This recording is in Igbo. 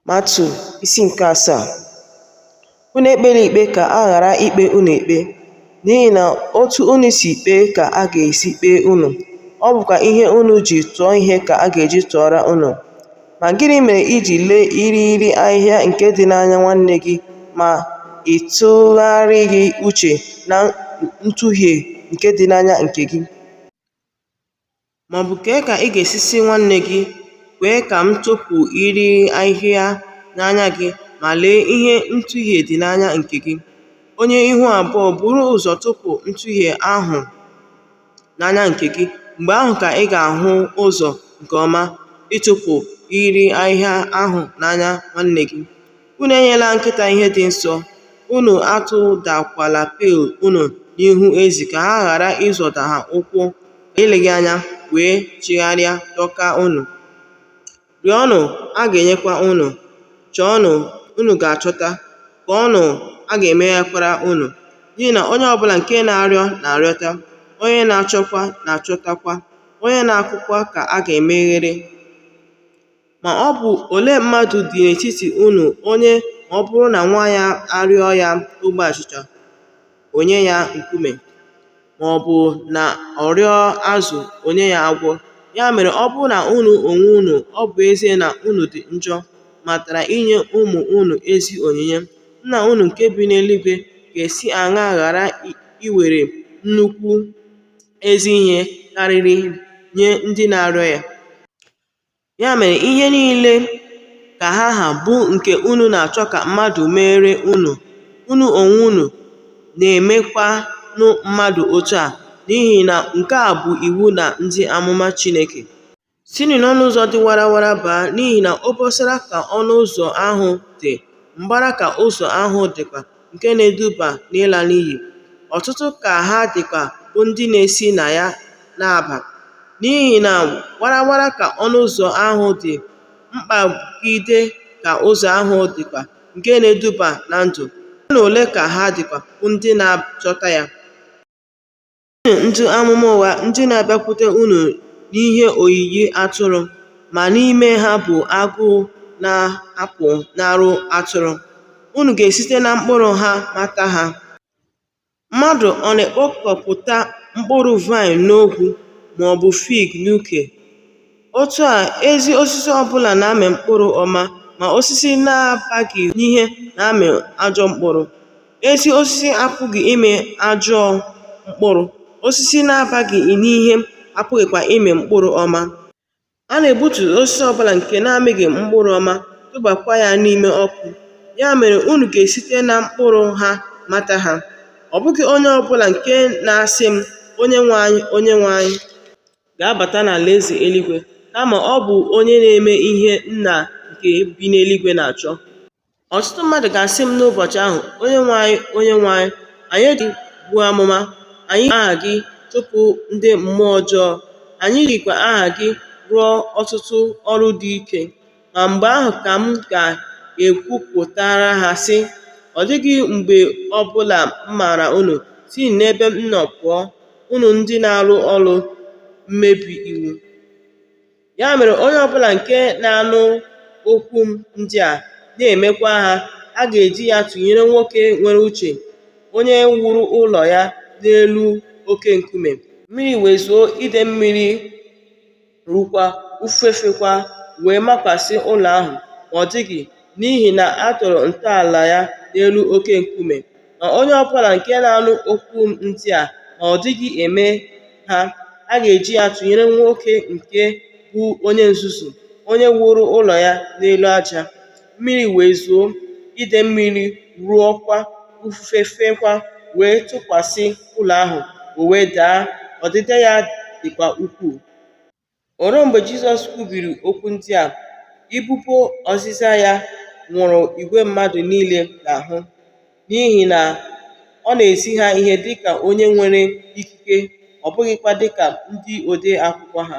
Matiu isi nke asaa unu ekpela ikpe ka a ghara ikpe unu ikpe n'ihi na otu unu si kpee ka a ga-esi kpee unu ọ bụkwa ihe unu ji tụọ ihe ka a ga-eji tụọra unu ma gịnị mere i ji lee irighiri ahịhịa nke dị n'anya nwanne gị ma ị tụgharịghị uche na ntuhie nke dị n'anya nke gị Ma ọ bụ kee ka ị ga-esi sị nwanne gị, Kwee ka m tụpụ irighiri ahịhịa n'anya gị, ma lee ihe ntuhie dị n'anya nke gị? Onye ihu abụọ, buru ụzọ tụpụ ntuhie ahụ n'anya nke gị, mgbe ahụ ka ị ga-ahụ ụzọ nke ọma ịtụpụ irighiri ahịhịa ahụ n'anya nwanne gị. Unu enyela nkịta ihe dị nsọ, unu atụdakwala pil unu n'ihu ezi ka ha ghara ịzọda ha ụkwụ eleghị anya wee chigharịa dọka unu. Rịọnụ, a ga-enyekwa unu, chọọnụ, unu ga-achọta, kụọnụ, a ga-emeghekwara unu. N'ihi na onye ọbụla nke na-arịọ na-arịọta, onye na-achọkwa na-achọtakwa, onye na-akụkwa ka a ga-emeghere. Ma ọ bụ olee mmadụ dị n'etiti unu onye ma ọ bụrụ na nwa ya arịọ ya ogbe achịcha, o nye ya nkume? Ma ọ bụ na ọ rịọ azụ, o nye ya agwọ? Ya mere, ọ bụrụ na unu onwe unu, ọ bụ ezie na unu dị njọ, matara inye ụmụ unu ezi onyinye, Nna unu nke bi n'eluigwe ga-esi aṅaa ghara iwere nnukwu ezi ihe karịrị nye ndị na-arịọ ya? Ya mere, ihe niile ka ha ha bụ nke unu na-achọ ka mmadụ meere unu, unu onwe unu na-emekwanụ mmadụ otu a, n'ihi na nke a bụ iwu na ndị amụma Chineke. Sinụ n'ọnụ ụzọ dị warawara baa, n'ihi na obosara ka ọnụ ụzọ ahụ dị, mbara ka ụzọ ahụ dịkwa. nke na-eduba n'ịla n'iyi, ọtụtụ ka ha dịkwa bụ ndị na-esi na ya na-aba. N'ihi na warawara ka ọnụ ụzọ ahụ dị, mkpagide ka ụzọ ahụ dịkwa nke na-eduba na ndụ, ole na ole ka ha dịkwa bụ ndị na-achọta ya. Unu ndị amụma ụgha ndị na-abịakwute unu n'ihe oyiyi atụrụ, ma n'ime ha bụ agụ na-apụnara atụrụ, unu ga-esite na mkpụrụ ha mata ha. Mmadụ ọ na-ekpokọpụta mkpụrụ vaịn n'ogwu, ma ọ bụ fig n'uke? Otu a, ezi osisi ọ bụla na-amị mkpụrụ ọma, ma osisi na-abaghị n'ihe na-amị ajọ mkpụrụ. Ezi osisi apụghị ịmị ajọ mkpụrụ, osisi na-abaghị n'ihe apụghịkwa ịmị mkpụrụ ọma. A na-egbutu osisi ọ bụla nke na-amịghị mkpụrụ ọma, tụbakwa ya n'ime ọkụ. Ya mere unu ga-esite na mkpụrụ ha mata ha. Ọ bụghị onye ọ bụla nke na-asị m, Onyenwe anyị, Onyenwe anyị. ga-abata n'alaeze eluigwe, kama ọ bụ onye na-eme ihe Nna nke bi n'eluigwe na-achọ. Ọtụtụ mmadụ ga-asị m n'ụbọchị ahụ, Onyenwe anyị, Onyenwe anyị, anyị ji buo amụma, anyị ji aha gị chụpụ ndị mmụọ ọjọọ, anyị jikwa aha gị rụọ ọtụtụ ọrụ dị ike. ma mgbe ahụ ka m ga-ekwupụtara ha sị, Ọ dịghị mgbe ọ bụla m maara unu, si n'ebe m nọ pụọ, unu ndị na-arụ ọrụ mmebi iwu. Ya mere onye ọbụla nke na-anụ okwu m ndị a na-emekwa ha, a ga-eji ya tụnyere nwoke nwere uche, onye wuru ụlọ ya n'elu oke nkume. Mmiri wee zoo, ide mmiri ruokwa ufufe feekwa wee makwasị ụlọ ahụ ma ọ daghị n'ihi na a tọrọ ntọala ya n'elu oke nkume ma onye ọbụla nke na-anụ okwu m ndị a ma ọ dịghị eme ha a ga-eji ya tụnyere nwoke nke bụ onye nzuzu onye wuru ụlọ ya n'elu aja Mmiri wee zoo, ide mmiri ruokwa, ufufe feekwa wee tụkwasị ụlọ ahụ, o wee daa, ọdịda ya dịkwa ukwuu. O ruo mgbe Jizọs kwubiri okwu ndị a, ibubo ozizi ya nwụrụ igwe mmadụ niile n'ahụ, n'ihi na ọ na-ezi ha ihe dị ka onye nwere ikike, ọ bụghịkwa dị ka ndị ode akwụkwọ ha.